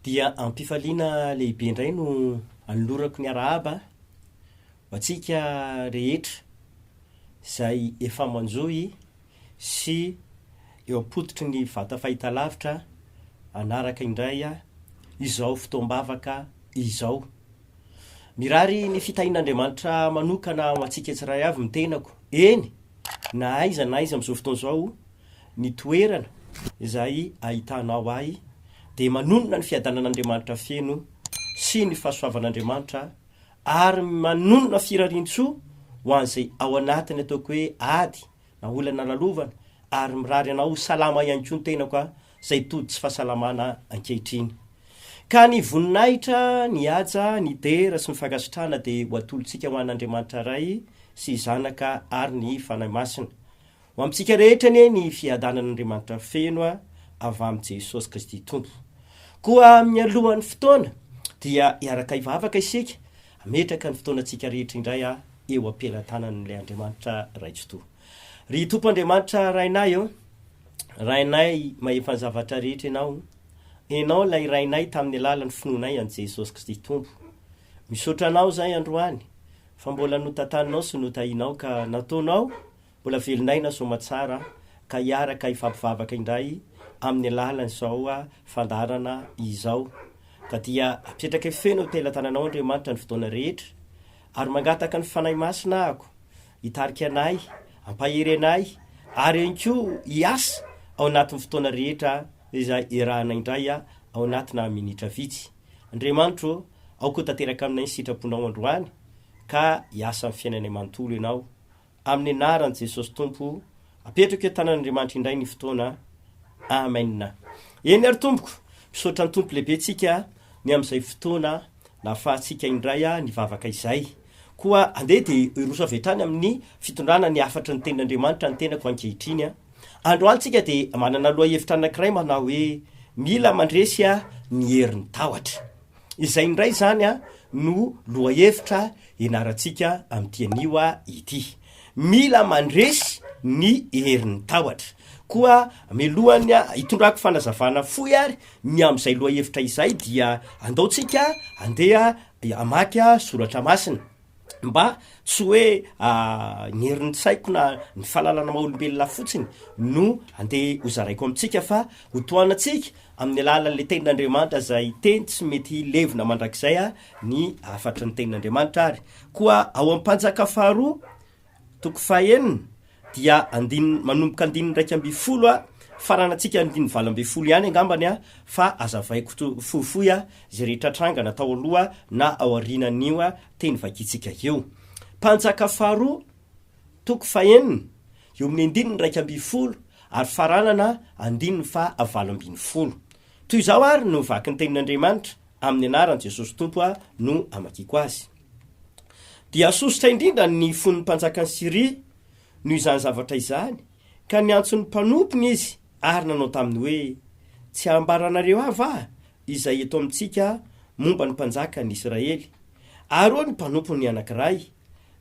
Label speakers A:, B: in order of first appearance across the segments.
A: Dia am-pifaliana lehibe indray no anolorako ny arahaba ho antsika rehetra izay efa manjohy sy eo am-pototry ny vata fahitalavitra hanaraka indray izao fotoam-bavaka izao. Mirary ny fitahian'Andriamanitra manokana ho antsika tsiray avy ny tenako, eny, na aiza na aiza amin'izao fotoana izao Ny toerana izay ahitanao ahy dia manonona ny fiadanan'Andriamanitra feno sy ny fahasoavan'Andriamanitra ary manonona firarian-tsoa ho an'izay ao anatin'ny ataoko hoe ady na olana lalovana ary mirary anao ho salama ihany koa ny tenako izay tody tsy fahasalamana ankehitriny. Ka ny voninahitra, ny haja, ny dera sy ny fankasitrahana dia ho atolotsika ho an'Andriamanitra Ray sy Zanaka ary ny Fanahy Masina. Ho amintsika rehetra anie ny fiadanan'Andriamanitra feno avy amin'i Jesosy Kristy Tompo. Koa mialohan'ny fotoana dia hiaraka hivavaka isika, hametraka ny fotoanantsika rehetra indray eo am-pelatanan'ilay Andriamanitra Ray Tsitoha. Ry Tompo Andriamanitra Rainay ô, Rainay mahefa ny zavatra rehetra Ianao, Ianao ilay Rainay tamin'ny alalan'ny finoanay an'i Jesosy Kristy Tompo. Misaotra Anao izahay androany fa mbola notataninao sy notahinao ka nataonao Mbola velon'aina soamatsara ka hiaraka hifampivavaka indray amin'ny alalan'izao fandaharana izao. Ka dia apetraka feno ho tela-tananao Andriamanitra ny fotoana rehetra ary mangataka ny Fanahy Masina ahako hitarika anay, hampahery anay ary ihany koa hiasa ao anatin'ny fotoana rehetra izay iarahana indray ao anatina minitra vitsy. Andriamanitro ô, ao koa tanteraka aminay ny sitraponao androany ka hiasa amin'ny fiainanay manontolo ianao Amin'ny anaran'i Jesosy Tompo, apetrako eo tanan'Andriamanitra indray ny fotoana. Amen. Eny ary tompoko, misaotra ny Tompo lehibe tsika ny amin'izay fotoana nahafahantsika indray nivavaka izay. Koa andeha dia hiroso avy hatrany amin'ny fitondrana ny hafatry ny tenin'Andriamanitra ny tenako ankehitriny. Androany tsika dia manana lohahevitra anankiray manao hoe, mila mandresy ny herin'ny tahotra. Izay indray izany no lohahevitra ianarantsika amin'ity anio ity. Mila mandresy ny herin'ny tahotra. Koa mialohan'ny hitondrako fanazavana fohy ary ny amin'izay lohahevitra izay dia andaontsika andeha hamaky soratra masina. mba tsy hoe ny herin-tsaiko na ny fahalalana maha olombelona ahy fotsiny no andeha hozaraiko amintsika fa ho tohanantsika amin'ny alalan'ilay tenin'Andriamanitra izay teny tsy mety hilevina mandrakizay ny hafatry ny tenin'Andriamanitra ary koa ao amin'ny mpanjaka faharoa Toko fahenina, dia andininy, manomboka andininy iraika ambin'ny folo a, faranantsika ny andininy valo ambin'ny folo ihany angambany a, fa azavaiko to, fohifohy a, izay rehetra trangana tao aloha na ao aorianan'io a, teny vakintsika io. Mpanjaka faharoa, toko fahenina, eo amin'ny andininy iraika ambin'ny folo, ary faranana andininy faha valo ambin'ny folo. Toy izao ary no vaky ny tenin'Andriamanitra, amin'ny anaran'i Jesosy Tompo aho no amakiako azy. dia sosotra indrindra ny fon'ny mpanjakan'i Syria noho izany zavatra izany, ka niantso ny mpanompony izy ary nanao taminy hoe, Tsy ambaranareo ahy va izay eto amintsika momba ny mpanjakan'i Israely? Ary hoy ny mpanompony anankiray,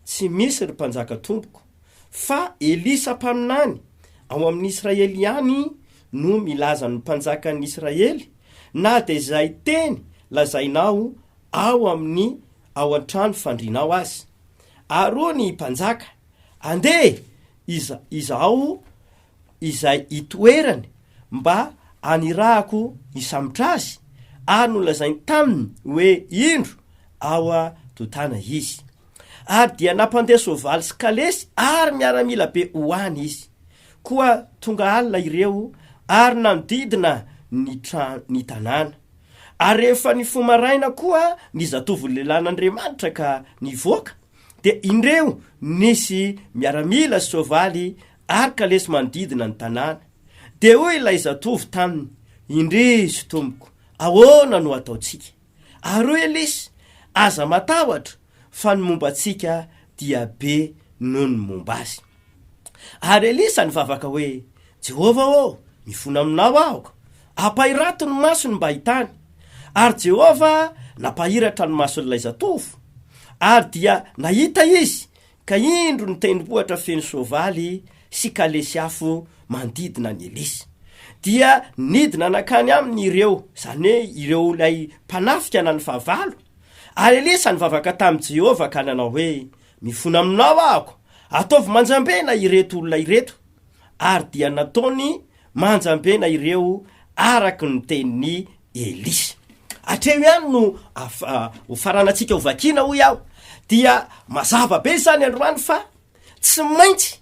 A: Tsy misy, ry mpanjaka tompoko, fa Elisa mpaminany ao amin'ny Israely ihany no milaza ny mpanjakan'i Israely na dia izay teny lazainao ao amin' ny ao an-trano fandrianao azy. Ary hoy ny mpanjaka, Andeha iza, izaho izay itoerany mba hanirahako hisambotra azy. Ary nolazainy taminy hoe, Indro, ao an-totana izy. Ary dia nampandeha soavaly sy kalesy ary miaramila be ho any izy. Koa tonga alina ireo ary nanodidina ny tra-, ny tanàna. Ary rehefa nifoha maraina koa ny zatovo lehilahin'Andriamanitra ka nivoaka, dia indreo nisy miaramila sy soavaly ary kalesy manodidina ny tanàna. Dia hoy ilay zatovo taminy, Indrisy, tompoko, ahoana no hataontsika? Ary hoy Elisy, Aza matahotra, fa ny momba antsika dia be noho ny momba azy. Ary Elisa nivavaka hoe, Jehovah ô, mifona aminao aho! Ampahirato ny masony mba hitany. Ary Jehovah nampahiratra ny mason'ilay zatovo, ary dia nahita izy, ka indro ny tendrombohitra feno soavaly sy kalesy afo manodidina an'i Elisa. Dia nidina nankany aminy ireo, izany hoe ireo ilay mpanafika na ny fahavalo, Ary Elisa nivavaka tamin'i Jehovah ka nanao hoe, Mifona aminao aho, ataovy manjambena ireto olona ireto. Ary dia nataony manjambena ireo araka ny tenin'i Elisa. Hatreo ihany no hofaranantsika hovakiana, hoy aho. Dia mazava be izany androany fa tsy maintsy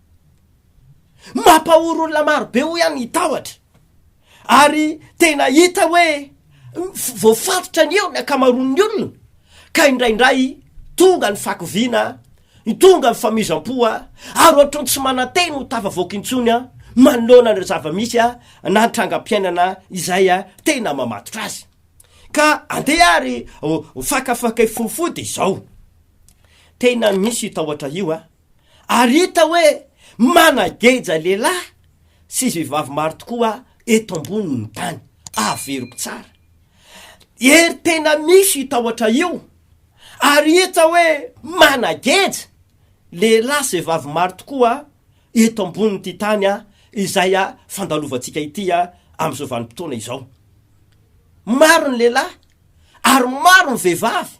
A: Mampahory olona maro be hoy aho ny tahotra. Ary tena hita hoe voafatotra ny eo ny ankamaroan'ny olona ka indraindray tonga ny fakoviana, tonga ny famizam-po ary ohatran'ny tsy manantena ho tafavoaka intsony manoloana an'ireo zava-misy na ny trangam-piainana izay tena mamatotra azy. Ka andeha ary ho fakafakay fofody izao. Tena misy io tahotra io an! ary hita hoe manageja lehilahy sy vehivavy maro tokoa eto ambonin'ny tany. Averiko tsara. Hery tena misy io tahotra io, ary hita hoe manageja lehilahy sy vehivavy maro tokoa eto ambonin'ity tany izay fandalovantsika ity amin'izao vanim-potoana izao. Maro ny lehilahy ary maro ny vehivavy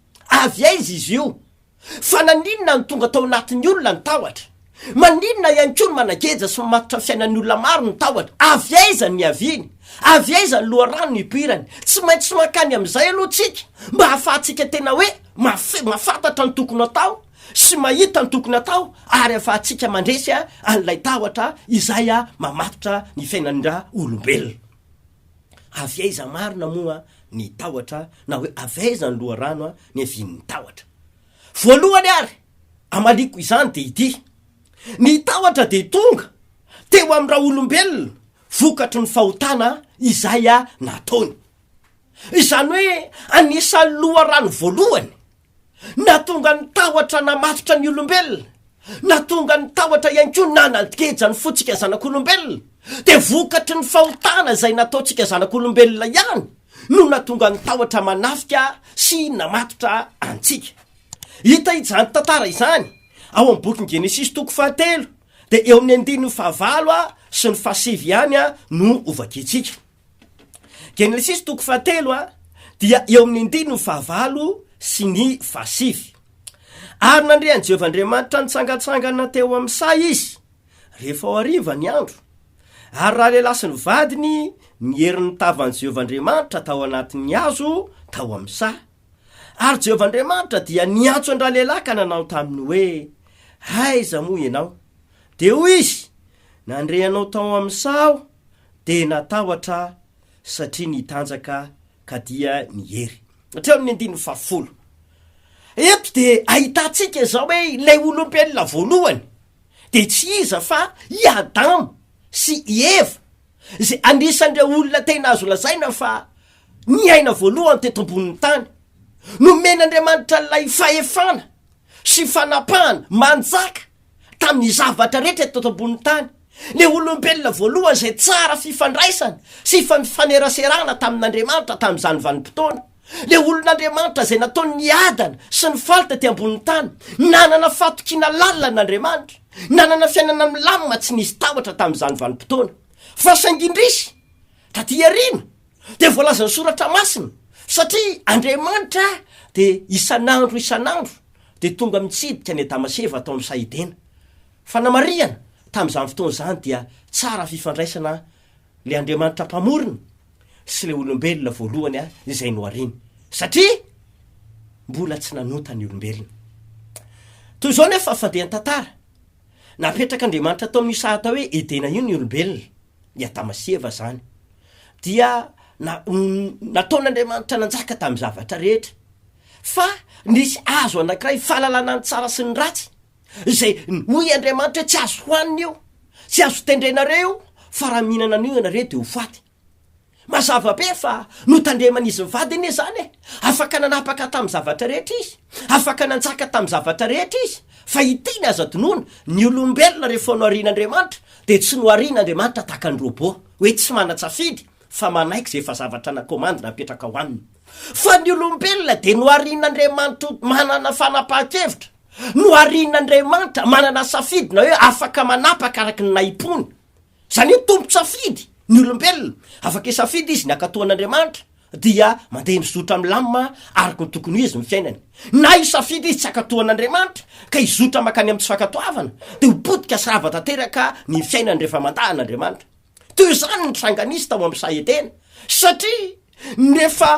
A: Avy aiza izy io? Fa naninona no tonga tao anatin'ny olona ny tahotra? Maninona ihany koa no manageja sy mamatotra ny fiainan'ny olona maro ny tahotra? Avy aiza no niaviany? Avy aiza ny loharano nipoirany? Tsy maintsy mankany amin'izay aloha tsika mba hahafahantsika tena hoe mafy, mahafantatra ny tokony hatao sy mahita ny tokony hatao ary hahafahantsika mandresy an'ilay tahotra izay mamatotra ny fiainan'ra olombelona. Avy aiza marina moa ny tahotra na hoe avy aiza ny loharano niavian'ny tahotra? Voalohany ary amaliako izany dia ity, ny tahotra dia tonga teo amin'ny raolombelona vokatry ny fahotana izay nataony. Izany hoe anisan'ny loharano voalohany Nahatonga ny tahotra namatotra ny olombelona, nahatonga ny tahotra ihany koa nanageja ny fontsika zanak'olombelona, dia vokatry ny fahotana izay nataontsika zanak'olombelona ihany no nahatonga ny tahotra manafika sy namatotra antsika. Hita izany tantara izany ao amin'ny bokin'i Genesisy toko fahatelo, dia eo amin'ny andininy fahavalo sy ny fahasivy ihany no hovakiantsika. Genesisy toko fahatelo a dia eo amin'ny andininy fahavalo sy ny fahasivy. Ary nandre an'i Jehovah Andriamanitra nitsangantsangana teo amin'ny saha izy, rehefa ho hariva ny andro, ary raha lehilahy sy ny vadiny niery ny tavan'i Jehovah Andriamanitra tao anatin'ny hazo tao amin'ny saha. Ary Jehovah Andriamanitra dia niantso an-dralehilahy ka nanao taminy hoe, Aiza moa ianao? Dia hoy izy, Nandre anao tao amin'ny saha aho, Dia natahotra aho satria nitanjaka ka dia niery. Hatreo amin'ny andininy fahafolo. Eto dia ahitantsika izao hoe ilay olombelona voalohany dia tsy iza fa i Adama sy i Eva izay anisan'ireo olona tena azo lazaina fa niaina voalohany teto ambonin'ny tany. Nomen'Andriamanitra ilay fahefana sy fanapahana manjaka tamin'ny zavatra rehetra eto ambonin'ny tany, ny olombelona voalohany izay tsara fifandraisana sy ifanifameraserana tamin'Andriamanitra tamin'izany vanim-potoana, ilay olon'Andriamanitra izay nataony niadana sy nifaly tety ambonin'ny tany, nanana fahatokiana lalina an'Andriamanitra, nanana fiainana milamina tsy nisy tahotra tamin'izany vanim-potoana. Fa saingy indrisy, taty aoriana, Dia voalazan'ny soratra masina, satria Andriamanitra dia isan'andro isan'andro dia tonga mitsidika an'i Adama sy Eva tao amin'ny saha Edena. Fanamarihana, tamin'izany fotoana izany dia tsara fifandraisana ilay Andriamanitra Mpamorona sy ilay olombelona voalohany izay nohariany, satria mbola tsy nanota ny olombelona. Toy izao nefa fandehan-tantara, Napetrak'Andriamanitra tao amin'io saha atao hoe Edena io ny olombelona. i Adama sy Eva izany, dia na- nataon'Andriamanitra nanjaka tamin'ny zavatra rehetra. Fa nisy hazo anankiray fahalalana ny tsara sy ny ratsy, izay hoy Andriamanitra hoe tsy azo hohanina io, tsy azo tendrena re io, fa raha mihinana an'io ianareo dia ho faty. Mazava be fa notandreman'izy mivady anie izany e! Afaka nanapaka tamin'ny zavatra rehetra izy, afaka nanjaka tamin'ny zavatra rehetra izy, fa hiteny aza dinoina, ny olombelona rehefa noharian'Andriamanitra dia tsy noharian'Andriamanitra tahaka ny robot, hoe tsy manan-tsafidy fa manaiky izay efa zavatra nakomandina hapetraka ho aminy. Fa ny olombelona dia noharian'Andriamanitra ho manana fanapahan-kevitra, noharian'Andriamanitra manana safidy na hoe afaka manapaka araka ny nahim-pony. Izany hoe tompon-tsafidy ny olombelona. Afaka hisafidy izy ny hankatoan'Andriamanitra, dia mandeha mizotra milamina araka ny tokony ho izy ny fiainany, na hisafidy izy tsy hankatoan'Andriamanitra, ka hizotra mankany amin'ny tsy fankatoavana, dia ho potika sy rava tanteraka ny fiainany rehefa mandà an'Andriamanitra. Toy izany ny tranga nisy tao amin'ny saha Edena, satria rehefa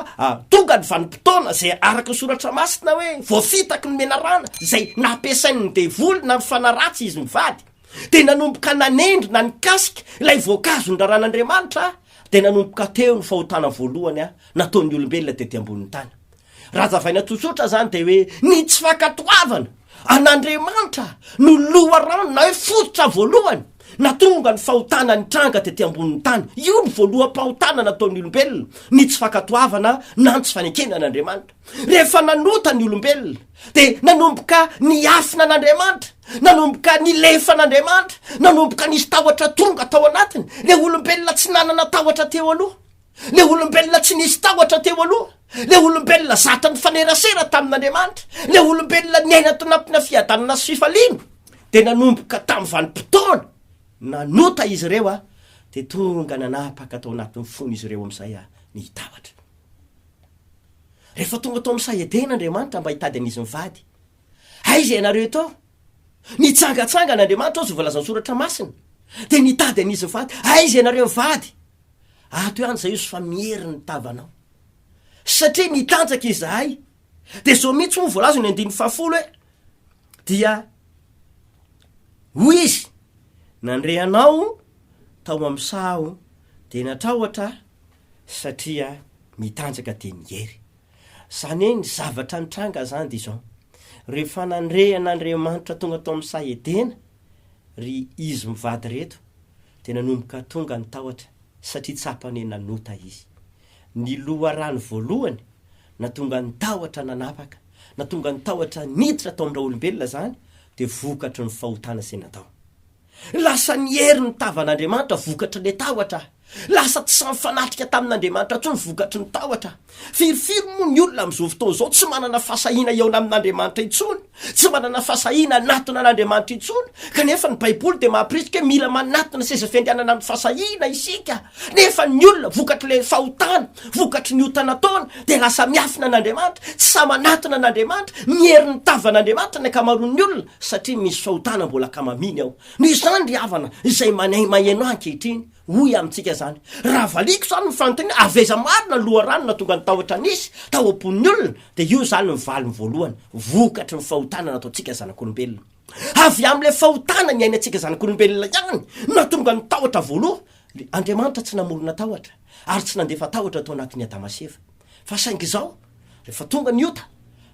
A: tonga ny vanim-potoana izay araka ny Soratra Masina hoe voafitaky ny menarana izay nampiasain'ny devoly na ny fanaratsy izy mivady, Dia nanomboka nanendry na nikasika ilay voankazo noraran'Andriamanitra aho, dia nanomboka teo ny fahotana voalohany nataon'ny olombelona tety ambonin'ny tany. Raha hazavaina tsotsotra izany dia hoe ny tsy fankatoavana an'Andriamanitra no loharano na hoe fototra voalohany natonga ny fahotana nitranga tety ambonin'ny tany. Io ny voaloham-pahotana nataon'ny olombelona, ny tsy fankatoavana na ny tsy fanekena an'Andriamanitra. Rehefa nanota ny olombelona, Dia nanomboka niafina an'Andriamanitra, nanomboka nilefa an'Andriamanitra, nanomboka nisy tahotra tonga tao anatiny, ilay olombelona tsy nanana tahotra teo aloha, ilay olombelona tsy nisy tahotra teo aloha, ilay olombelona zatra nifanerasera tamin'Andriamanitra, ilay olombelona niaina tao anatina fiadanana sy fifaliana, dia nanomboka tamin'ny vanim-potoana nanota izy ireo, dia tonga nanapaka tao anatin'ny fon'izy ireo amin'izay ny tahotra. Rehefa tonga tao amin'ny saha Edena Andriamanitra mba hitady an'izy mivady. Aiza ianareo eto? Nitsangatsangana Andriamanitra ao izay voalazan'ny Soratra Masina, dia nitady an'izy mivady. Aiza ianareo mivady? Ato ihany izahay hozy fa miery ny tavanao. Satria nitanjaka izahay. Dia izao mihitsy moa voalaza ny andininy fahafolo hoe, dia hoy izy, nandre anao tao amin'ny saha aho, dia natrahotra aho, satria mitanjaka dia miery. Zany hoe ny zavatra nitranga zany dia izao, rehefa nandre an'Andriamanitra tonga tao amin'ny saha Edena ry izy mivady ireto dia nanomboka tonga ny tahotra satria tsapany hoe nanota izy. Ny loharano voalohany natonga ny tahotra nanapaka, natonga ny tahotra niditra tao amin'ny raolombelona zany dia vokatry ny fahotana izay natao. Lasa niery ny tavan'Andriamanitra vokatry ilay tahotra. Lasa tsy mifanatrika tamin'Andriamanitra intsony vokatry ny tahotra. Firifiry moa ny olona amin'izao fotoana izao tsy manana fahasahiana hihaona amin'Andriamanitra intsony, tsy manana fahasahiana hanatona an'Andriamanitra intsony? Kanefa ny Baiboly dia mampirisika hoe mila manatona seza fiandrianana amin'ny fahasahiana isika. Nefa ny olona, vokatr'ilay fahotana, vokatry ny ota nataony, dia lasa miafina an'Andriamanitra, tsy sahy manatona an'Andriamanitra, niery ny tavan'Andriamanitra ny ankamaroan'ny olona. satria misy fahotana mbola kamaminy ao. Noho izany ry havana, izay manahy maheno ahy ankehitriny, hoy amintsika izany, raha valiako izany ny fanontaniana, avy aiza marina ny loharano nahatonga ny tahotra nisy tao am-pon'ny olona, dia io izany ny valiny voalohany, vokatry ny fahotana nataontsika zanak'olombelona. Avy amin'ilay fahotana niainantsika zanak'olombelona ihany no nahatonga ny tahotra voaloha. Andriamanitra tsy namorona tahotra ary tsy nandefa tahotra tao anatin'i Adama sy Eva. Fa saingy izao, rehefa tonga ny ota,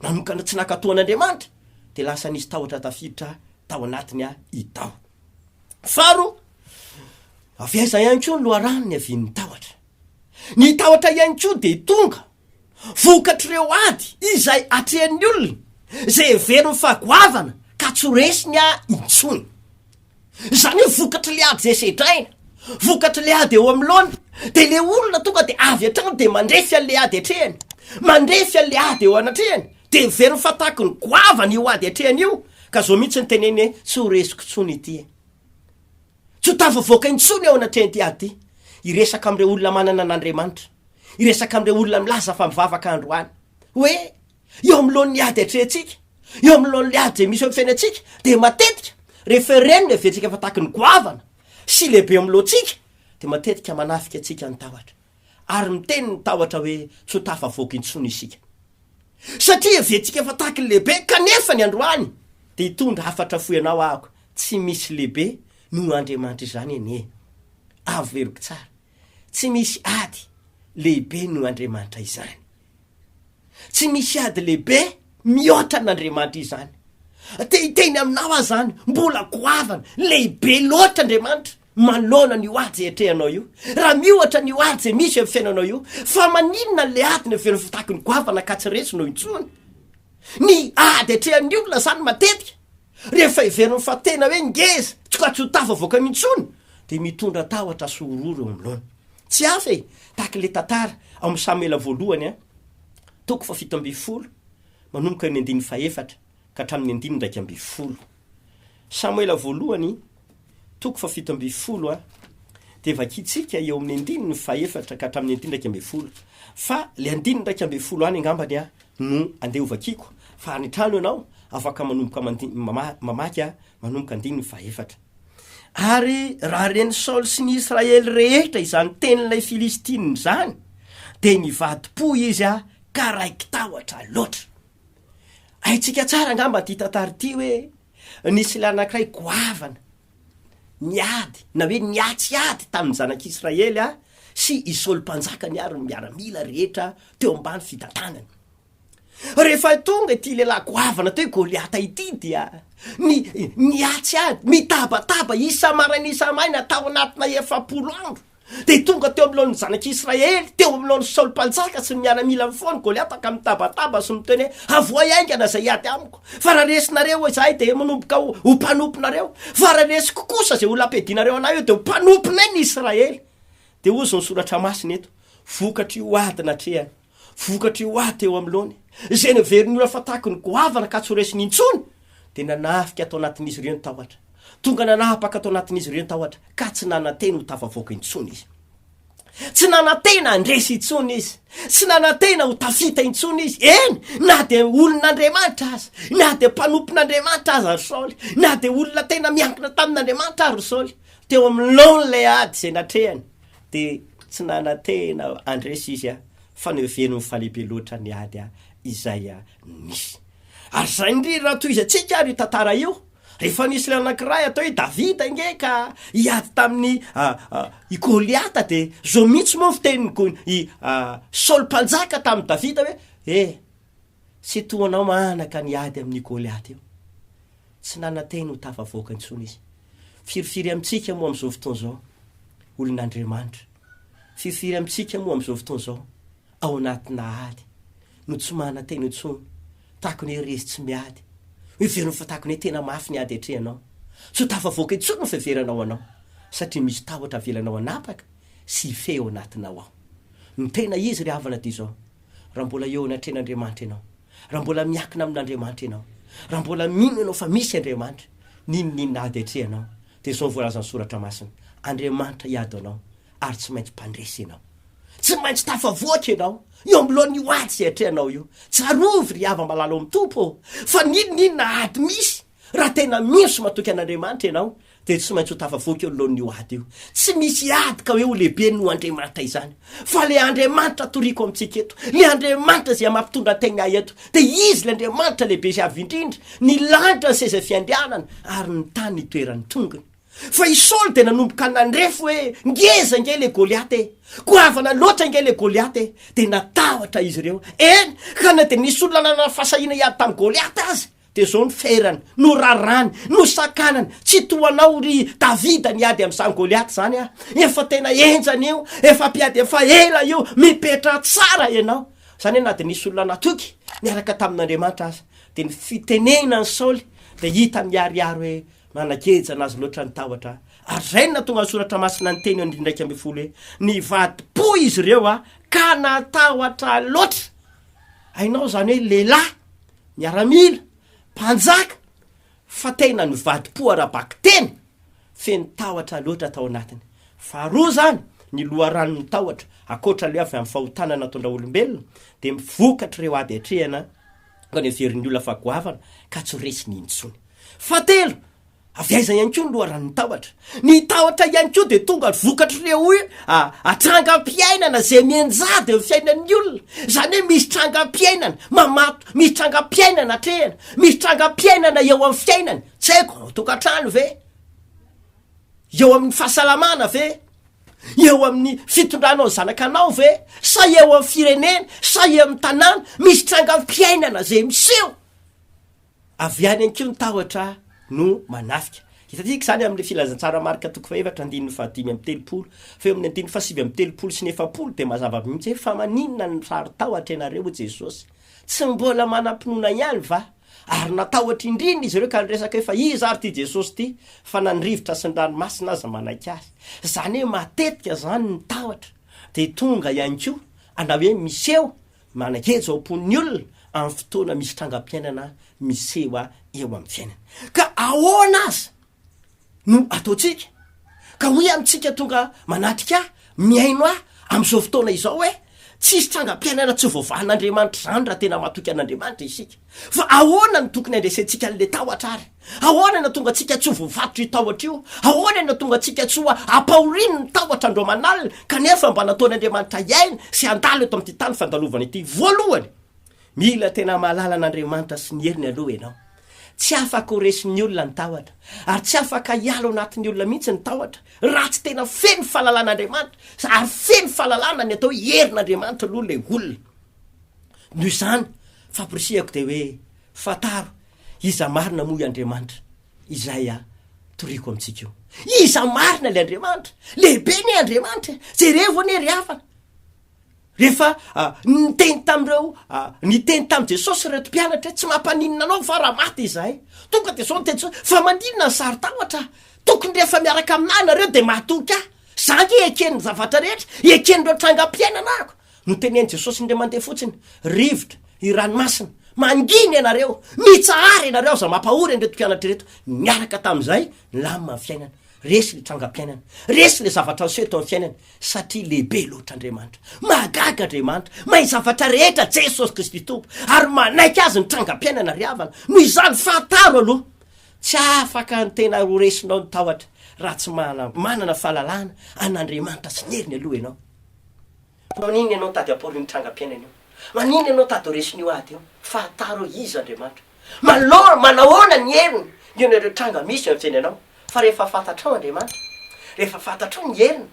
A: nanokana tsy nankatò an'Andriamanitra. dia lasa nisy tahotra tafiditra tao anatiny aho i Tao. Faro, avy aiza ihany koa ny loharano niavian'ny tahotra? Ny tahotra ihany koa dia tonga vokatr'ireo ady izay atrehan'ny olona izay heveriny fa goavana ka tsy ho resiny aho intsony. Izany hoe vokatry le ady zay sedraina, vokatry le ady eo amin'ny laona, de le olona tonga de avy hatrany de mandrefy an'le ady atrehany, mandrefy an'le ady eo anatrehany, de heveriny fa tahaky ny goavana io ady atrehany io, ka zao mihitsy ny teneny hoe tsy ho resiko tsony ity e! Tsy ho tafavoaka intsony eo anatrehan'ity ady ty, hiresaka amin'ireo olona manana an'Andriamanitra, hiresaka amin'ireo olona milaza fa mivavaka androany, hoe. Eo anoloan'ny ady atrehintsika, eo anoloan'ny ady izay misy eo amin'ny fiainantsika, dia matetika rehefa reny ny haventsika fa tahaky ny goavana sy lehibe eo amin'ny lohantsika, dia matetika manafika antsika ny tahotra, ary miteny ny tahotra hoe tsy ho tafavoaka intsony isika. Satria hevertsika fa tahaky ny lehibe, kanefa ny androany dia hitondra hafatra fohy anao ahako, tsy misy lehibe noho Andriamanitra izany anie. Averiko tsara, tsy misy ady lehibe noho Andriamanitra izany. Tsy misy ady lehibe mihoatra an'Andriamanitra izany. Te hiteny aminao aho izany, mbola goavana, lehibe loatra Andriamanitra manoloana an'io ady izay atrehanao io. Raha miohatra an'io ady izay misy eo amin'ny fiainanao io, fa maninona ilay ady no heveriny fa tahaka ny goavana ka tsy resinao intsony? Ny ady atrehan'ny olona izany matetika. Rehefa heveriny fa tena hoe ngeza, tsy ka tsy ho tafavoaka intsony, dia mitondra tahotra sy horohoro eo anoloana. Tsy hafa e, tahaka ilay tantara ao amin'ny Samoela Voalohany a, toko fahafito ambin'ny folo, manomboka eo amin'ny andininy fahefatra ka hatramin'ny andininy iraika ambin'ny folo. Samoela Voalohany Toko fahafito ambin'ny folo a, dia vakintsika eo amin'ny andininy fahefatra ka hatramin'ny andininy iraika ambin'ny folo, fa ilay andininy iraika ambin'ny folo any angambany a no andeha ho vakiako, fa any an-trano ianao afaka manomboka mandin-, mamaky a, manomboka andininy fahefatra. Ary raha ren'i Saoly sy ny Israely rehetra izany tenin'ilay Filistina izany, dia nivadi-po izy a, ka raiki-tahotra loatra. Haintsika tsara angamba ity tantara ity hoe Nisy lahy anankiray goavana niady na hoe niatsy ady tamin'ny Zanak'Israely sy i Saoly Mpanjakany ary ny miaramila rehetra teo ambany fitantanany. Rehefa tonga ity lehilahy goavana atao hoe Goliata ity dia ni, niatsy ady, mitabataba isa-maraina isa-maina tao anatina efapolo andro. Dia tonga teo anoloan'ny zanak'i Israely, teo anoloan'i Saoly Mpanjaka sy ny miaramilany foana i Goliata ka mitabataba sy miteny hoe, Avohay haingana izay hiady amiko, fa raha resinareo eo izahay dia manomboka ho ho mpanomponareo, fa raha resiko kosa izay olona ampiadianareo anay eo dia ho mpanomponay ny Israely. Dia hozy ny soratra masina eto, vokatr'io ady natrehany. Vokatry ho ahy teo amin'ny laony, izay naverin'ny ora fa tahaky ny goavana ka tsy ho resiny intsony, dia nanafika tao anatin'izy ireo ny tahotra. Tonga nanapaka tao anatin'izy ireo ny tahotra, ka tsy nanantena ho tafavoaka intsony izy. Tsy nanantena handresy intsony izy. Tsy nanantena ho tafita intsony izy. Eny, na dia olon'Andriamanitra aza, na dia mpanompon'Andriamanitra aza ry Saoly, na dia olona tena miankina tamin'Andriamanitra ary ry Saoly, teo amin'ny laon'ilay ady izay natrehany, Dia tsy nanantena handresy izy an! Fa noheveriny ho falehibe loatra ny ady an! Izay nisy. Ary izay indrindra no tohizantsika ary io tantara io. Rehefa nisy ilay anankiray atao hoe Davida ange ka hiady tamin'i i Goliata dia izao mihitsy moa ny fitenin'i i Saoly mpanjaka tamin'i Davida hoe, Eh! Tsy toa anao manaka ny ady amin'io Goliata io. Tsy nanan-teny ho tafavoaka intsony izy. Firifiry amintsika moa amin'izao fotoana izao, olon'Andriamanitra? Firifiry amintsika moa amin'izao fotoana izao, ao anatinà ady, no tsy manan-teny intsony, tahaka ny hoe resy tsy miady, heveriny fa tahaka ny hoe tena mafy ny ady atrehanao? Tsy ho tafavoaka intsony ny fiheveranao anao, satria misy tahotra avelanao hanapaka sy hifehy ao anatinao ao. Ny tena izy ry havana dia izao, raha mbola eo anatrehan'Andriamanitra ianao, raha mbola miakina amin'Andriamanitra ianao, raha mbola mino ianao fa misy Andriamanitra, n'inon'inona ady atrehanao, dia izao no voalazan'ny Soratra Masina, Andriamanitra hiady anao, ary tsy maintsy mpandresy ianao. Tsy maintsy tafavoaka ianao, eo ambiloan'io ady izay atrehanao io. Tsarovy, ry hava-malala ao amin'ny Tompo ô, fa n'inon'inona ady misy, Raha tena mino sy matoky an'Andriamanitra ianao dia tsy maintsy ho tafavoaka eo anoloan'io ady io. Tsy misy hiady ka hoe ho lehibe noho Andriamanitra izany. Fa ilay Andriamanitra toriko amintsika eto, ilay Andriamanitra izay mampitondra tegna ahy eto, dia Izy ilay Andriamanitra lehibe sy avo indrindra, ny lanitra ny seza fiandrianany ary ny tany ny toeran'ny tongony. Fa i Saoly dia nanomboka nandrefy hoe ngeza ange ilay Goliata e! Goavana loatra ange ilay Goliata e! Dia natahotra izy ireo. Eny, ka na dia nisy olona nanana fahasahiana hiady tamin'i Goliata aza, Dia izao no ferany, no raràny, no sakanany, Tsy toa anao, ry Davida, niady amin'izany Goliata izany aho. Efa tena henjana io, efa mpiady efa ela io, mipetraha tsara ianao. Izany hoe na dia nisy olona natoky niaraka tamin'Andriamanitra aza. Dia ny fitenenina an'i Saoly dia hita miharihary hoe, Manageja an'azy loatra ny tahotra. Ary izay no nahatonga ny Soratra Masina niteny eo andininy iraika ambin'ny folo hoe, Nivadi-po izy ireo ka natahotra loatra. Hainao izany hoe lehilahy. miaramila, mpanjaka, fa tena nivadi-po ara-bakiteny, feno tahotra loatra tao anatiny. Faharoa izany, ny loharanon'ny tahotra, ankoatra ilay avy amin'ny fahotana nataon-dra olombelona, dia mivokatr'ireo ady atrehina ka noheverin'ny olona fa goavana ka tsy ho resiny intsony. Fahatelo, Avy aiza ihany koa ny loharanon'ny tahotra? Ny tahotra ihany koa dia tonga vokatr'ireo hoe a trangam-piainana izay mianjady amin'ny fiainan'ny olona. Izany hoe misy trangam-piainana mamato, misy trangam-piainana atrehina, misy trangam-piainana eo amin'ny fiainany, tsy haiko, ao an-tokantrano ve, eo amin'ny fahasalamana ve, eo amin'ny fitondranao ny zanakanao ve, sa eo amin'ny firenena, sa eo amin'ny tanàna, misy trangam-piainana izay miseho. Avy any an-kiho ny tahotra no manafika. Hitantsika izany amin'ny Filazantsara Marka toko fahefatra andininy fahadimy amby telopolo. Fa eo amin'ny andininy fahasivy amby telopolo sy ny efapolo dia mazava mihitsy hoe fa maninona no saro-tahotra ianareo hoy Jesosy? Tsy mbola manam-pinoana ihany va? Ary natahotra indrindra izy ireo ka niresaka hoe fa iza ary ity Jesosy ity fa na ny rivotra sy ny ranomasina aza manaiky azy. Izany hoe matetika izany ny tahotra dia tonga ihany koa ana hoe miseho Manageja ao am-pon'ny olona amin'ny fotoana misy trangam-piainana miseho eo amin'ny fiainany. Ka ahoana aza no ataontsika ka hoy amintsika tonga manatrika ahy, mihaino ahy amin'izao fotoana izao hoe, Tsisy trangam-piainana tsy voavahan'Andriamanitra izany raha tena matoky an'Andriamanitra isika. Fa ahoana no tokony handresentsika an'ilay tahotra àry? Ahoana no hahatonga antsika tsy ho voavatr'io tahotra io? Ahoana no hahatonga antsika tsy ho ampahoriany ny tahotra andro aman'alina, kanefa mba nataon'Andriamanitra hiaina sy handalo eto amin'ity tany fandalovana ity? Voalohany, mila tena mahalala an'Andriamanitra sy ny heriny aloha ianao. Tsy afaka ho resin'ny olona ny tahotra, ary tsy afaka hiala ao anatin'ny olona mihitsy ny tahotra, raha tsy tena feno fahalalana Andriamanitra, ary feno fahalalana ny atao hoe herin'Andriamanitra aloha ilay olona. Noho izany, famporisihako dia hoe, Fantaro iza marina moa i Andriamanitra, izay a, toriko amintsika io. Iza marina ilay Andriamanitra? Lehibe anie Andriamanitra e! Jerevo anie ry havana! Rehefa a, niteny tamin'ireo a, niteny tamin'i Jesosy ireto mpianatra hoe, Tsy mampaninona anao fa raha maty izahay. Tonga dia izao ny teny Jesosy, Fa maninona ny saron-tahotra? Tokony rehefa miaraka amin'ahy nareo dia matoky ahy. Izaho ange eken'ny zavatra rehetra, eken'ireo trangam-piainana ahiko. Notenenin'i Jesosy indray mandeha fotsiny, Rivotra, io ranomasina, mangina ianareo, mitsahara ianareo aza mampahory an'ireto mpianatra ireto. Niaraka tamin'izay, nilamina ny fiainany. Resy ilay trangam-piainany. Resy ilay zavatra niseho teo amin'ny fiainany. Satria lehibe loatra Andriamanitra. Mahagaga Andriamanitra. Mahay zavatra rehetra Jesosy Kristy Tompo. Ary manaiky azy ny trangam-piainana ry havana. Noho izany, fantaro aloha. Tsy afaka ny tena horesinao ny tahotra raha tsy manana fahalalana an'Andriamanitra sy ny heriny aloha ianao. Maninona ianao tady apory io trangam-piainana io? Maninona ianao tady ho resin'io ady io? Fantaro hoe iza Andriamanitra. Manao, manahoana ny heriny mihaona ireo tranga misy eo amin'ny fiainanao. Fa rehefa fantatrao Andriamanitra, rehefa fantatrao ny heriny,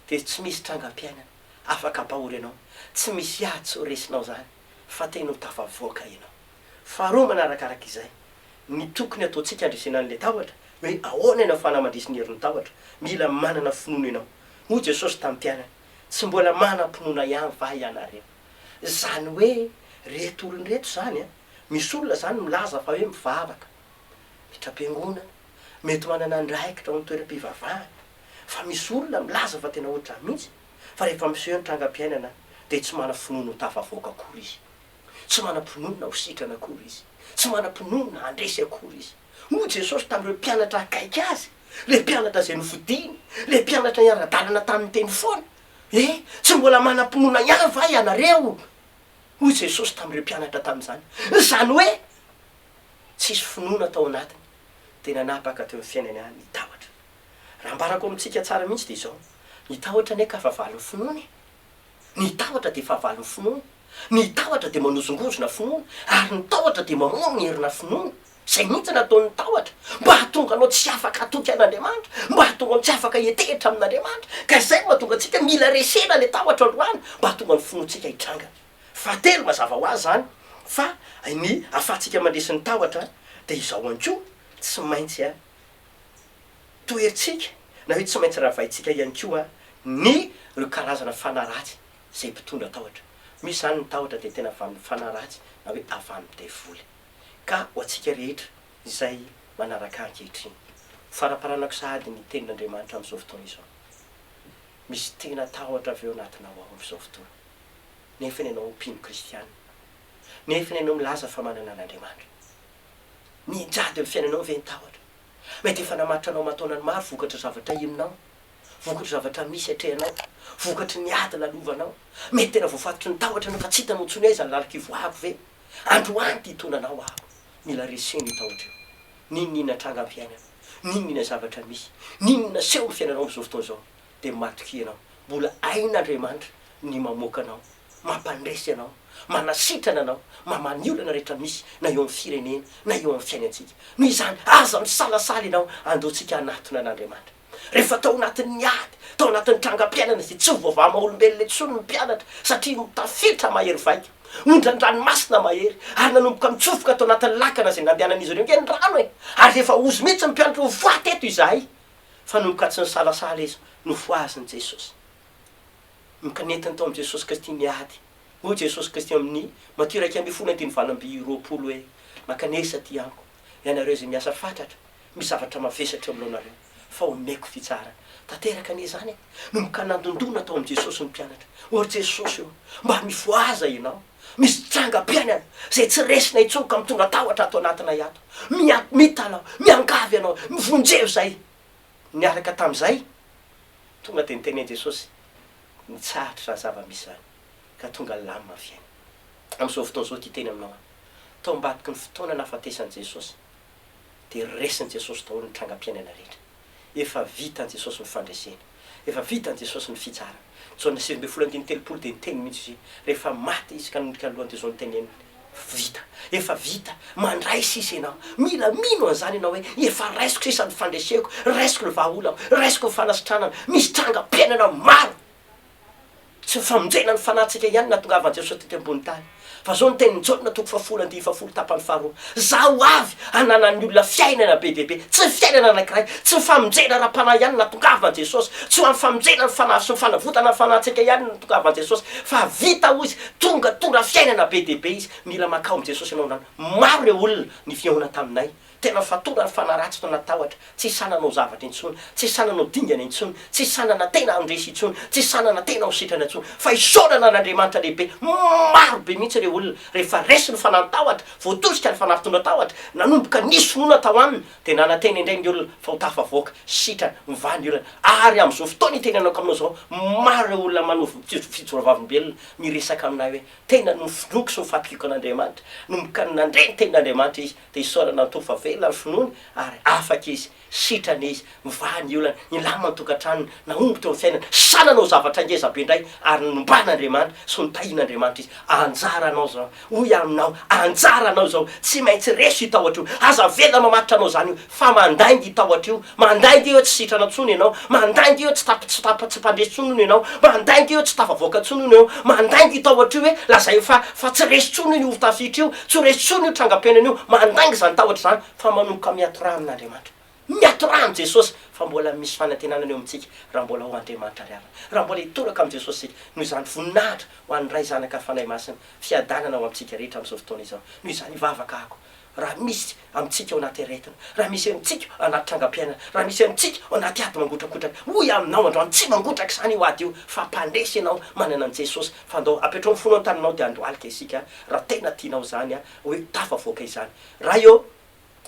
A: dia tsy misy trangam-piainana afaka hampahory anao. Tsy misy ady tsy ho resinao izany, fa tena ho tafavoaka ianao. Faharoa manarakaraka izay, ny tokony ataontsika handresena an'ilay tahotra, hoe ahoana ny ahafahana mandresy ny herin'ny tahotra? Mila manana finoana ianao. Hoy Jesosy tamin'ny mpianany, Tsy mbola manam-pinoana ihany va ianareo? Izany hoe ireto olona ireto izany an, misy olona izany milaza fa hoe mivavaka, miditra am-piangonana, mety manana andraikitra ao amin'ny toeram-pivavahana, fa misy olona milaza fa tena ohatr'izany mihitsy, fa rehefa miseho ny trangam-piainana dia tsy manam-finoana ho tafavoaka akory izy. Tsy manam-pinoana ho sitrana akory izy. Tsy manam-pinoana handresy akory izy. Hoy Jesosy tamin'ireo mpianatra akaiky azy, ilay mpianatra izay nofidiny, ilay mpianatra niara-dalana taminy teny foana, E, tsy mbola manam-pinoana ihany va ianareo? Hoy Jesosy tamin'ireo mpianatra tamin'izany, izany hoe tsisy finoana tao anatiny, dia nanapaka teo amin'ny fiainany ihany ny tahotra. Raha ambarako amintsika tsara mihitsy dia izao, Ny tahotra anie ka fa valin'ny finoana e! Ny tahotra dia fahavalon'ny finoana. Ny tahotra dia manozongozona finoana, ary ny tahotra dia mamono ny herina finoana. Izay mihitsy no ataon'ny tahotra, mba hahatonga anao tsy afaka hatoky an'Andriamanitra, mba hahatonga anao tsy afaka hiantehitra amin'Andriamanitra. Ka izay no mahatonga antsika mila resena ilay tahotra androany, mba hahatonga ny finoantsika hitranga. Fahatelo, mazava ho azy izany fa ny ahafahantsika mandresy ny tahotra dia izao ihany koa, tsy maintsy. toherintsika na hoe tsy maintsy ravaintsika ihany koa ny ireo karazana fanahy ratsy izay mpitondra tahotra. Misy izany ny tahotra dia tena avy amin'ny fanahy ratsy na hoe avy amin'ny devoly. Ka ho antsika rehetra izay manaraka ahy ankehitriny, ho faraparanako sahady ny tenin'Andriamanitra amin'izao fotoana izao. Misy tena tahotra avy ao anatinao ao amin'izao fotoana, nefany ianao mpino kristiana, nefany ianao milaza fa manana an'Andriamanitra. Nijady amin'ny fiainanao ve ny tahotra? Mety efa namaritra anao aman-taonany maro vokatry ny zavatra henonao, vokatry ny zavatra misy atrehanao, vokatry ny ady lalovanao. Mety tena voafatotry ny tahotra anao ka tsy hitanao intsony hoe aiza ny lalako hivoahako ve? Androany ity hitondra anao aho. Mila reseho ny tahotra eo. N'inon'inona tranga am-piainana, n'inon'inona zavatra misy, n'inon'inona seho amin'ny fiainanao amin'izao fotoana izao, dia matokia ianao. Mbola hain'Andriamanitra ny mamoaka anao Mampandresy Ianao, manasitrana Anao, mamaha ny olana rehetra misy na eo amin'ny firenena na eo amin'ny fiainantsika. Noho izany, aza misalasala Ianao handoantsika hanatona an' Andriamanitra. Rehefa tao anatin'ny ady, tao anatin'ny trangam-piainana izay tsy ho voavaha-maha-olombelona intsony ny mpianatra satria tafiditra mahery vaika, ondran-dranomasina mahery, ary nanomboka nitsofoka tao anatin'ny lakana izay nandehanan'izy ireo. Nge ny rano e! Ary rehefa hozy mihitsy ny mpianatra ho faty eto izahay! Fa nanomboka tsy nisalasala izy, nofohazin'i Jesosy. Mikanentana tao amin'i Jesosy Kristy ny ady. Hoy Jesosy Kristy amin'ny Matio iraika ambin'ny folo andininy valo amby roapolo hoe, Mankanesa aty Amiko, ianareo izay miasa fatratra, misy zavatra mavesatra eo aminareo, fa homeko fitsarana. Tanteraka anie izany e! Nomboka nandondona tao amin'i Jesosy ny mpianatra. Hoy ry Jesosy eo, Mba mifohaza ianao! Misy trangam-piainana izay tsy resina intsony ka mitondra tahotra ato anatinay ato. Miha-mita anao, miangavy anao, mivonjevo izay. niaraka tamin'izay, tonga dia niteny an'i Jesosy, Nitsahatra izany zava-misy izany, ka tonga lamina ny fiainany. Amin'izao fotoana izao ity teny aminao aho. Tao ambadiky ny fotoana nahafatesan'i Jesosy, dia resin'i Jesosy daholo ny trangam-piainana rehetra. Efa vitan'i Jesosy ny fandresena. Efa vitan'i Jesosy ny fitsarana. Jaona sivy ambin'ny folo andininy telopolo dia niteny mihitsy izy hoe, Rehefa maty Izy ka nondrika ny lohany dia izao no teneniny, Vita. Efa vita. Mandray sisa ianao. Mila mino an'izany ianao hoe efa raisiko sisa ny fandreseko, raisiko ny vahaolako, raisiko ny fanasitranana. Misy trangam-piainana maro. Tsy ny famonjena ny fanahintsika ihany no nahatongavan'i Jesosy tety ambony tany. Fa izao ny tenin'i Jaona toko fahafolo andinin'ny fahafolo tapany faharoa, Izaho ho avy hananan'ny olona fiainana be dia be. Tsy fiainana anankiray. Tsy ny famonjena ara-panahy ihany no nahatongavan'i Jesosy. Tsy ho an'ny famonjena ny fanahy sy ny fanavotana ny fanahintsika ihany no nahatongavan'i Jesosy. Fa vita, hoy Izy, Tonga tora fiainana be dia be izy, mila makao amin'i Jesosy ianao androany. Maro ireo olona nifihaona taminay, tena fatora ary fanaratsy no natahotra, tsy sahy nanao zavatra intsony, tsy sahy nanao dingana intsony, tsy sahy nanantena handresy intsony, tsy sahy nanantena ho sitrana intsony. Fa isaorana an'Andriamanitra lehibe, maro be mihitsy ireo olona rehefa resy ny fanantahotra, voatosika ny fanafitondran-tahotra, nanomboka nisy finoana tao aminy, Dia nanantena indray ny olona fa ho tafavoaka sitrana ny valiorana ary amin'izao fotoana hitenenako aminao izao, maro ireo olona manao fijoravavimbelona miresaka amin'ahy hoe tena nofinoiko sy nofatoriako an'Andriamanitra, nomboka nandre ny tenin'Andriamanitra izy dia isaorana ny Tompo fa velona ny finoany ary afaka izy, sitrana izy, mivaha ny olana, nilamina ny tokantranony, nahomby teo amin'ny fiainany, sa nanao zavatra ngezabe indray ary nomban'Andriamanitra sy notahian'Andriamanitra izy? Anjaranao izao. Hoy aho aminao, anjaranao izao, tsy maintsy reso io tahotra io, aza avela mamatotra anao izany io, fa mandainga io tahotra io, mandainga io hoe tsy sitrana intsony ianao, mandainga io hoe tsy tap, tsy tap, tsy mpandresy intsony hono ianao, mandainga io hoe tsy tafavoaka intsony hono ianao, mandainga io tahotra io hoe lazaio fa, fa tsy resy intsony io horotafihitr'io, tsy ho resy intsony io trangam-piainana io, mandainga izany tahotra izany, fa manomboka miato rà amin'Andriamanitra. Ny hatoran'i Jesosy fa mbola misy fanantenana eo amintsika raha mbola ho Andriamanitra ry havana, raha mbola hitoraka amin'i Jesosy isika, noho izany voninahitra ho an'ny Ray, Zanaka ary Fanahy Masina, fiadanana ho amintsika rehetra amin'izao fotoana izao. Noho izany hivavaka ako, raha misy amintsika ao anaty aretina, raha misy amintsika ao anaty trangam-piainana, raha misy amintsika ao anaty ady mangotrakotraka, hoy aminao androany, tsy mangotraka izany io ady io, fa mpandresy ianao manana an'i Jesosy, fa andao apetraho ny fonao an-taninao dia handohalika isika, raha tena tianao izany, hoe tafavoaka izany. Ray ô!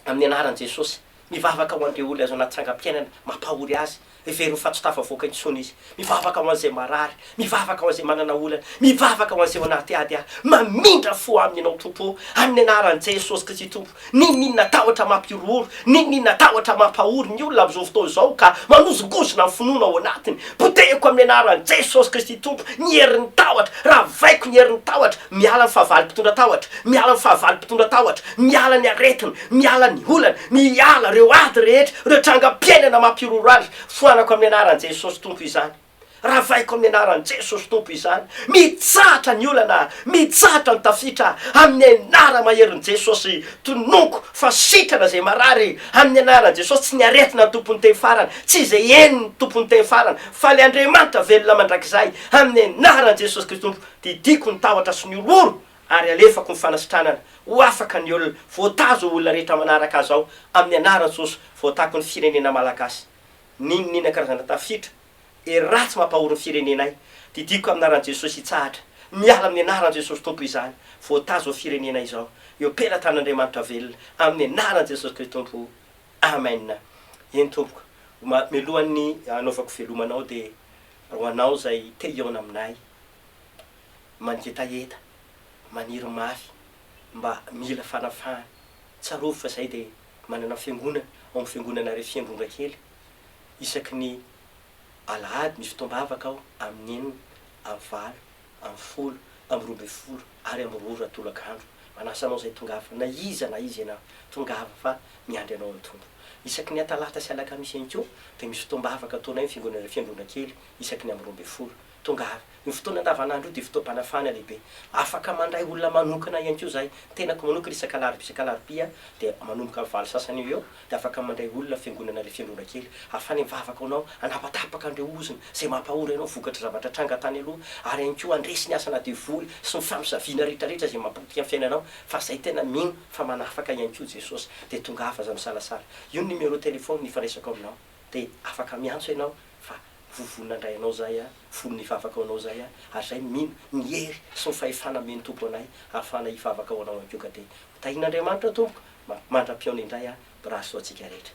A: Amin'ny anaran'i Jesosy, mivavaka ho an'ireo olona azo anaty trangam-piainana mampahory azy. Hevero ho fahatsotava havoaka intsony izy. Mivavaka ho an'izay marary. Mivavaka ho an'izay manana olana. Mivavaka ho an'izay ao anaty ady aho. Mamindra fo aminy ianao Tompo o! Amin'ny anaran'i Jesosy Kristy Tompo. N'inon'inona tahotra mampihorohoro, n'inon'inona tahotra mampahory ny olona amin'izao fotoana izao ka manozongozona ny finoana ao anatiny, potehiko amin'ny anaran'i Jesosy Kristy Tompo ny herin'ny tahotra. Ravaiko ny herin'ny tahotra. Miala ny fahavalo mpitondra tahotra. Miala ny fahavalo mpitondra tahotra. Miala ny aretina, miala ny olana, miala ireo ady rehetra, ireo trangam-piainana mampiroro azy, foanako amin'ny anaran'i Jesosy Tompo izany, ravaiko amin'ny anaran'i Jesosy Tompo izany, mitsahatra ny olana aho, mitsahatra ny tafita aho, amin'ny anara maherin'i Jesosy, tononiko fa sitrana izay marary, amin'ny anaran'i Jesosy, tsy ny aretina ny Tompo niteny farany, tsy izay heno ny Tompo niteny farany, fa ilay Andriamanitra velona mandrakizay, amin'ny anaran'i Jesosy Kristy Tompo, didiako ny tahotra sy ny horohoro ary alefako ny fanasitranana ho afaka ny olona, voatazo ho olona rehetra manaraka azy ao amin'ny anaran'i Jesosy, voatako ny firenena Malagasy niniana karazana tafiditra hery ratsy mampahory ny firenenay, didiako amin'ny anaran'i Jesosy hitsahatra, miala amin'ny anaran'i Jesosy Tompo izany, voatazo ao firenena izao eo pelatan'Andriamanitra velona amin'ny anaran'i Jesosy Kristy Tompo Amen eny Tompoko ma melohan'ny hanaovako veloma anao dia ho anao izay te hihaona aminay. mangetaheta, maniry mafy mba mila fanafahana. Tsarovy fa zahay dia manana fiangonana ao amin'ny fiangonana Refy Androngakely. Isaky ny alahady misy fotoam-bavaka ao amin'ny enina amin'ny valo amin'ny folo amin'ny roa ambin'ny folo ary amin'ny roa ora tolaka andro. Manasa anao izay tongava na iza na iza ianao, tongava fa miandry anao ny Tompo. Isaky ny atalata sy alakamisy ihany koa dia misy fotoam-bavaka ataonay amin'ny fiangonana Refy Androngakely isaky ny amin'ny roa ambin'ny folo. Tonga avy. Io fotoana andavanandro io dia fotoam-panafahana lehibe. Afaka mandray olona manokana ihany koa izahay. Ny tenako manokana isak'alarobia isak'alarobia dia manomboka amin'ny valo sasany eo ho eo dia afaka mandray olona fiangonana ilay fiangonana kely. Afany mivavaka ho anao, hanapatapaka an'ireo ozona izay mampahory anao vokatr'ireo zavatra tranga tany aloha ary ihany koa handresy ny asana devoly sy ny famosaviana rehetrarehetra izay mampapotika ny fiainanao fa izay tena mino fa manafaka ihany koa Jesosy dia tongava aza misalasala. Io ny numéro téléphone ifandraisako aminao dia afaka miantso ianao fa Vovonina ndray anao zay a, folo ny vavaka ho anao zay a, ary zay mino ny hery sy ny fahefana amen'ny Tompo anay ahafahana hivavaka ho anao ihany koa ka dia ho tahian'Andriamanitra tompoko mandra-pihaona indray a, brasso antsika rehetra.